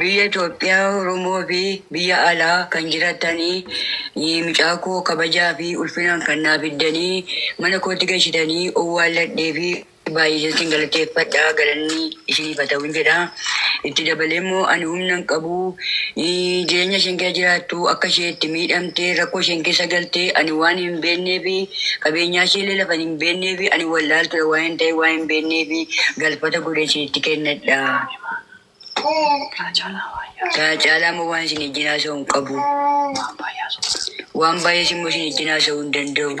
Biyya Itoophiyaa, Oromoo fi biyya alaa kan jirattanii mucaa koo kabajaa fi ulfinaan kan naa fiddanii mana kootti gashitanii owwaalladhee fi baay'iseen sin galateeffadha galanni isiniif haa ta'uun jedha. Itti dabalee immoo ani humna hin qabu jireenya isheen keessa jiraattu akka ishee itti miidhamtee rakkoo isheen keessa galtee ani waan hin beeknee fi qabeenyaa ishee illee lafa hin hin beekneefi ani wallaaltuudha waa'een ta'ee waan hin beekneefi galfata godhee isinitti kennadha. Kana caalaa immoo waan isin ijjiin haasa'u hin qabu. Waan baay'ees immoo isin ijjiin haasa'uu hin danda'u.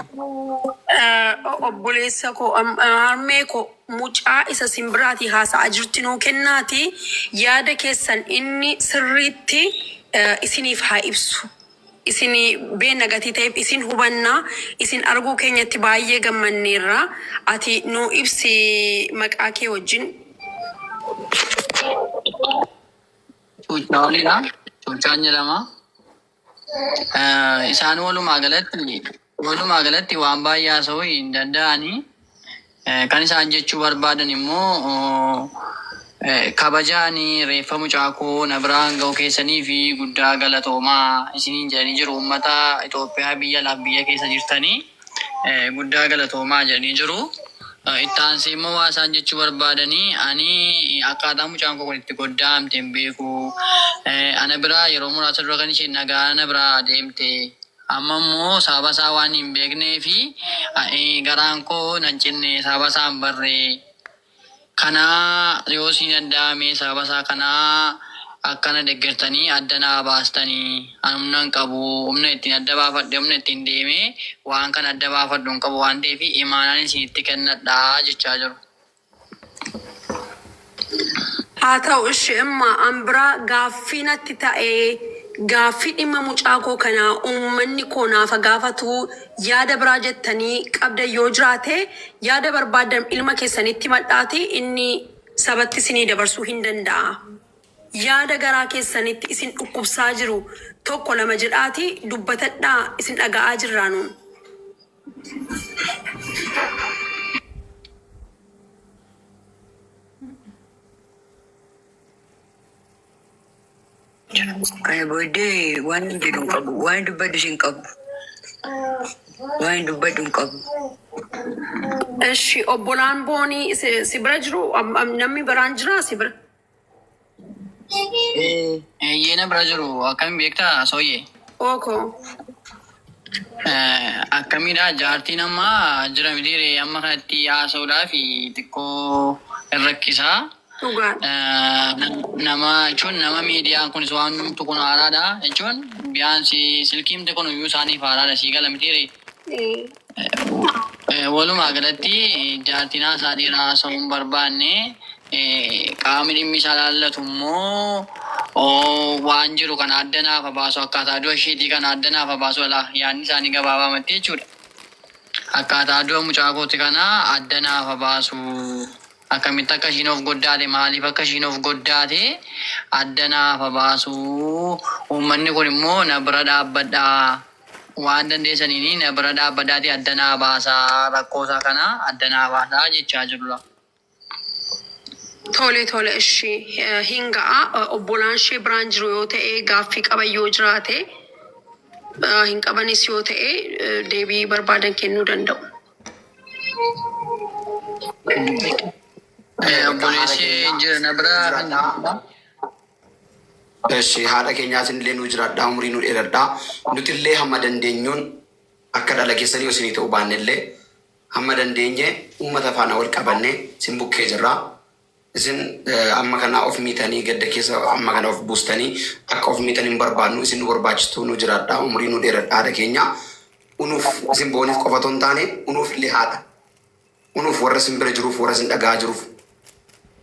Obboleessa koo harmee koo mucaa isa isin biraatii haasa'aa jirti nuu kennaatii yaada keessan inni sirriitti isiniif haa ibsu. Isin beenna gatii ta'eef isin hubanna. Isin arguu keenyatti baay'ee gammanneerra. Ati nuu ibsi maqaa kee wajjin. Cuuchaa Olii dha. Cuuchaan jedhama. Isaan walumaa galatti. Walumaa galatti waan baay'ee haasa'uu hin danda'ani. Kan isaan jechuu barbaadan immoo kabaja ani reeffa mucaa koo na biraan ga'uu keessaniif guddaa galatoomaa isiniin jedhanii jiru. Uummata Itoophiyaa biyya alaaf biyya keessa jirtanii guddaa galatoomaa jedhanii jiru. Itti aansee immoo waan isaan jechuu barbaadan ani akkaataa mucaan koo kun itti goddaa'amte hin beeku. Ana biraa yeroo muraasa dura kan isheen nagaa na biraa deemte Amma immoo sababa isaa waan hin beekneef, ani garaan koo nan cinne, sababa isaa hin barre. Kana yoo isinii danda'ame sababa isaa kana akka na deggertanii adda naa baastani. Ani humna hin qabu, humna ittiin adda baafadhe, humna ittiin deemee waan kana adda baafadhu hin qabu waan ta'eef, imaanaan isinitti kennadha jechaa jiru. Haa ta'u ishi imma an biraa gaaffii natti ta'e gaaffii dhimma mucaa koo kana uummanni koo naafa gaafatu yaada biraa jettanii qabdan yoo jiraate yaada barbaaddan ilma keessanitti himadhaati inni sabatti isinii dabarsuu hin danda'a yaada garaa keessanitti isin dhukkubsaa jiru tokko lama jedhaati dubbatadhaa isin dhaga'aa jirraa nuun. Kana booddee waan hin jedhu hin qabu. Waan hin dubbadhu hin qabu. Waan hin dubbadhu hin qabu. Eshi obbolaan boonii si si bira jiru am- am- namni biraan jira si bira. Eeyyee na bira jiru akkamiin beektaa sooyyee? Ooko. Akkamiidha jaartiin amma jira midiire amma kanatti haasa'uudhaaf xiqqoo hin rakkisaa. Dhugaadha. Nama jechuun nama miidiyaan kunis waan hundumtu kun haaraadha jechuun biyaan silkiimti kun iyyuu isaaniif haaraadha sii gala midiire. Walumaa galatti jaartiin haasaa dheeraa haasa'uu hin barbaanne. Qaamni dhimmi isaa ilaallatu immoo waan jiru kana adda naaf haa baasu, akkaataa du'a isheetii kana adda naaf haa baasu jedha. Yaadni isaanii gabaabaamatti jechuudha. Akkaataa du'a mucaa kooti kana adda naaf haa baasu, akkamitti akka ishiin of goddaate, maaliif akka ishiin of goddaate adda naaf haa baasu, uummanni kun immoo na bira dhaabbadhaa, waan dandeesaniini na bira dhaabbadhaati adda naa baasaa rakkoo isaa kana adda naa baasaa jechaa jirra. Tole tole ishi hin ga'a obbolaan ishee biraan jiru yoo ta'e gaaffii qaban yoo jiraate hin qabanis yoo ta'e deebii barbaadan kennuu danda'u. Obboleessi jira na bira kan jirudha. Eshi haadha kenyaa isinillee nuu jiraadhaa umurii nuu dheeradhaa nutillee hamma dandeenyuun akka dhala keessanii yoo isinii ta'uu baannellee hamma dandeenye ummata faana wal qabannee isin bukkee jirra isin amma kana of miitanii gadda keessa amma kana of buustanii akka of miitan hin barbaannu isin nu barbaachistuu nuu jiraadhaa umurii nuu dheeradhaa haadha keenyaa unuuf isin booniif qofa otoo hin taane unuuf illee haadha unuuf warra isin bira jiruuf warra isin dhaga'aa jiruuf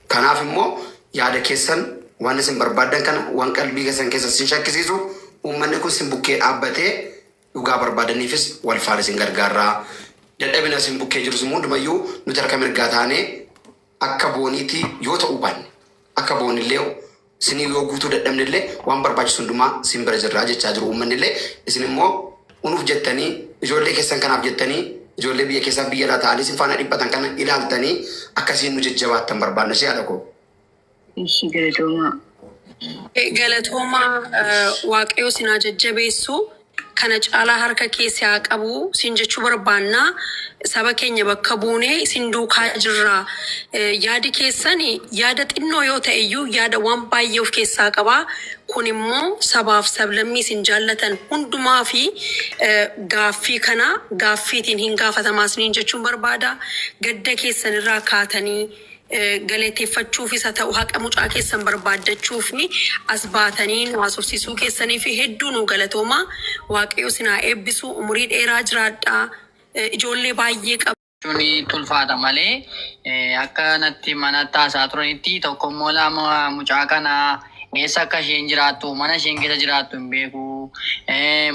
kanaaf immoo yaada keessan waan isin barbaaddan kana waan qalbii keessan keessa isin shakkisiisu uummanni kun isin bukkee dhaabbatee dhugaa barbaadaniifis wal faana isin gargaarraa dadhabina isin bukkee jirus immoo hundumayyuu nuti harka mirgaa taanee akka booniitti yoo ta'uu baanne akka boonillee Isiniif yoo guutuu dadhabne illee waan barbaachisu hundumaa isin bira jirra jechaa jiru uummanni illee. Isin immoo unuuf jettanii ijoollee keessan kanaaf jettanii ijoollee biyya keessaa biyya alaa ta'anii isin faana dhiphatan kana ilaaltanii akkasiin nu jajjabaattan barbaadna si haadha koo. Ishii galatoomaa. Galatoomaa eh, waaqayyoo sinaa jajjabeessu. kana caalaa harka kee si haa qabu siin jechuu barbaanna. Saba keenya bakka buunee isin duukaa jirra. Yaadi keessan yaada xinnoo yoo ta'e iyyuu yaada waan baay'ee of keessaa qaba. Kun immoo sabaaf sablammii isin jaallatan hundumaa fi gaaffii kana gaaffiitiin hin gaafatama isiniin jechuun barbaada. Gadda keessan irraa kaatanii. galateeffachuufis haa ta'u haqa mucaa keessan barbaaddachuuf as baatanii nu haasofsiisuu keessaniif hedduu nuu galatoomaa. Waaqayyo isin haa eebbisu. Umurii dheeraa jiraadhaa. Ijoollee baay'ee qabdu. Jechuun itti ulfaata malee akka natti manatti haasa'aa turanitti tokko immoo lama mucaa kana eessa akka isheen jiraattu mana isheen keessa jiraattu hin beeku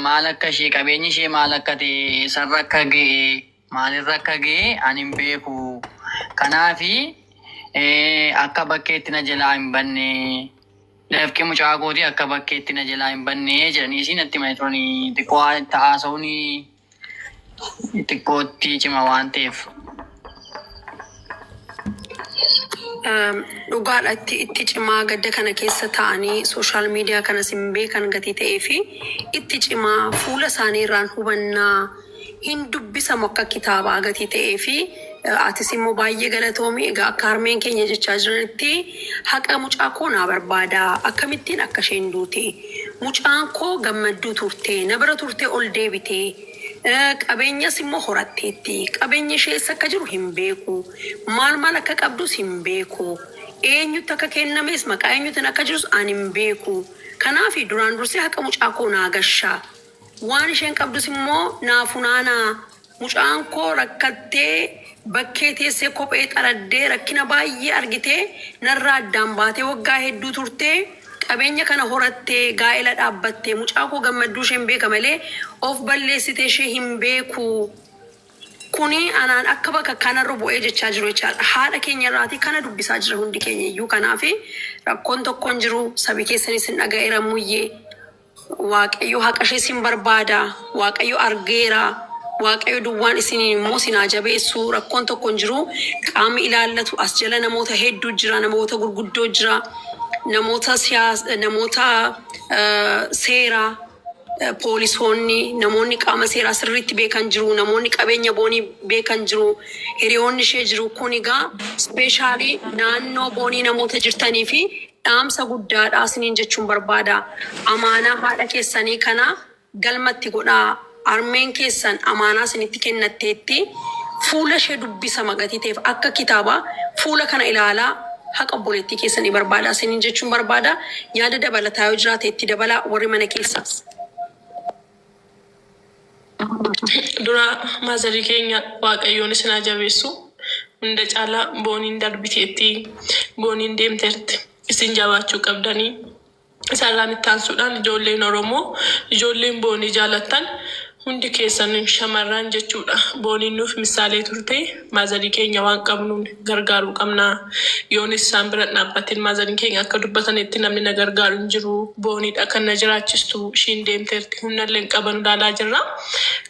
maal akka ishee qabeenyi ishee maal akka ta'e eessarra akka ga'e Maalirra akka ga'e ani hin beeku. Kanaaf akka bakkeetti na jalaa hin banne, dafqi mucaa kootii akka bakkeetti na jalaa hin banne jedhaniisii natti himanii turani. Xiqqoo itti haasa'uun xiqqoo itti cima waan ta'eef. Dhugaadha itti itti cimaa gadda kana keessa ta'anii sooshaal miidiyaa kanas hin beekan gatii ta'ee fi itti cimaa fuula isaanii irraan hubannaa hin dubbisamu akka kitaabaa gatii ta'ee fi atis immoo baay'ee galatoomi egaa akka harmeen keenya jechaa jiranitti haqa mucaa koo naa barbaada akkamittiin akka isheen duute mucaan koo gammadduu turte na bira turte ol deebite Qabeenyas immoo horatteetti. Qabeenyi ishee eessa akka jiru hin beeku. Maal maal akka qabdus hin beeku. Eenyutti akka kennames maqaa eenyuutiin akka jirus ani hin beeku. Kanaafi duraan dursee haqa mucaa koo naa gashaa. Waan isheen qabdus immoo naa funaanaa. Mucaan koo rakkattee bakkee teessee kophee xaraddee rakkina baay'ee argitee narraa addaan baatee waggaa hedduu turtee. Qabeenya kana horattee gaa'ela dhaabbatte mucaa koo gammadduu isheen beeka malee of balleessite ishee hin beeku kuni anaan akka bakakkaa narra bu'ee jechaa jiru jechaadha haadha keenya irraatii kana dubbisaa jira hundi keenya iyyuu kanaafi rakkoon tokko hin jiru sabi keessanis hin dhaga'eera muyyee Waaqayyo haqa ishee sin barbaada. Waaqayyo argeera. Waaqayyo duwwaan isiniin immoo sin haa jabeessu. Rakkoon tokko hin jiru. Qaamni ilaallatu as jala namoota hedduu jira. Namoota gurguddoo jira. Namoota siyaas, namoota eh, seeraa, eh, poolisoonni, namoonni qaama seeraa sirriitti beekan jiru. Namoonni qabeenya boonii beekan jiru. Hiriyoonni ishee jiru. Kun egaa ispeeshaalii naannoo boonii namoota jirtanii fi Dhaamsa guddaadha isiniin jechuun barbaada. Amaanaa haadha keessanii kana galmatti godhaa. Harmeen keessan amaanaa isinitti kennatteetti. Fuula ishee dubbisa magatii ta'eef akka kitaaba fuula kana ilaalaa haqa obboleettii keessanii barbaadaa isiniin jechuun barbaada. Yaada dabalataa yoo jiraate itti dabalaa warri mana keessaas. Duraa maazarii keenya waaqayyoon isin haa jabeessu hunda caalaa booniin darbiteetti booniin deemteerti isin jabaachuu qabdanii isarraan ittaansuudhaan ijoolleen oromoo ijoolleen boonii jaalattan hundi keessan shamarran jechuudha booniin nuuf missaalee turtee Maazarii keenya waan qabnuun gargaaruu qabna. Yoonis isaan bira hin dhaabbatin. Maazariin keenya akka dubbatanitti namni na gargaaru hin jiru. Booniidha kan na jiraachistu. Ishiin deemteerti. Humnallee hin qabanu ilaalaa jirra.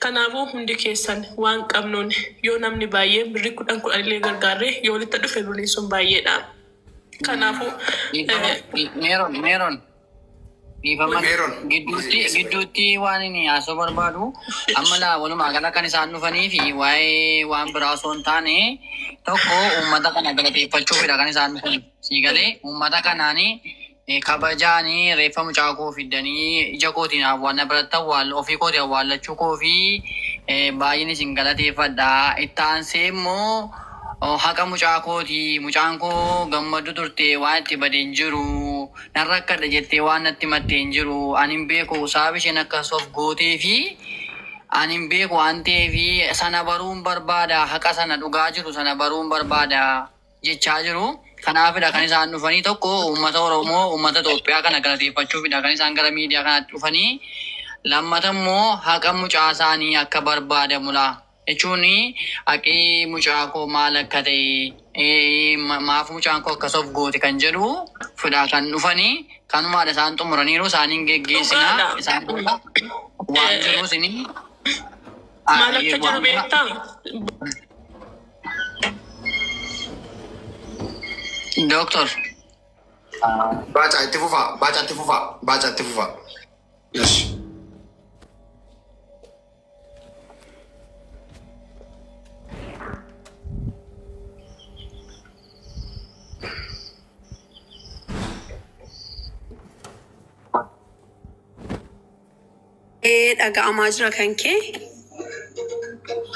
Kanaafuu hundi keessan waan qabnuun yoo namni baay'een birrii kudhan kudhanillee gargaarre yoo walitti dhufe birriin sun baay'eedha. Kanaafuu Dhiifama. eh, Meeron, Meeron, Dhiifama Meeron. gidduutti gidduutti waan inni haasoo barbaadu amma laa walumaa gala kan isaan dhufanii fi waa'ee waan biraa osoo hin taane tokko uummata kana galateeffachuufidha kan isaan dhufan. Sii galee uummata kanaan eh, kabajaan eh, reeffa mucaa koo fiddanii ija kootiin awwaalna biratti awwaal ofii kootiin awwaallachuu koo fi eh, baay'een isin galateeffadha. Itti aansee immoo oh, haqa mucaa kooti mucaan koo gammadu turte waan itti badeen jiru. Nan rakkadha jettee waan natti himatte hin jiru. Ani hin beeku sababa isheen akkas of gootee fi ani hin beeku waan ta'eef sana baruun barbaada, haqa sana dhugaa jiru sana baruun barbaada jechaa jiru. Kanaafidha kan isaan dhufanii tokko uummata Oromoo, uummata Itoophiyaa kana galateeffachuufidha kan isaan gara miidiyaa kanaatti dhufanii. Lammata immoo haqa mucaa isaanii akka barbaadamudha. jechuun haqii mucaa koo maal akka ta'e, maaf mucaan koo akkas of goote kan jedhu fidhaa kan dhufani. Kanumaadha isaan xumuraniiru isaan hin geggeessina. Dhugaadha. Isaan booda waan jiru isin Maal akka jiru beektaa? Dooktor Baaca itti fufaa, baaca itti fufaa, baaca itti fufaa. Yes. Ee dhaga'amaa jira kan kee.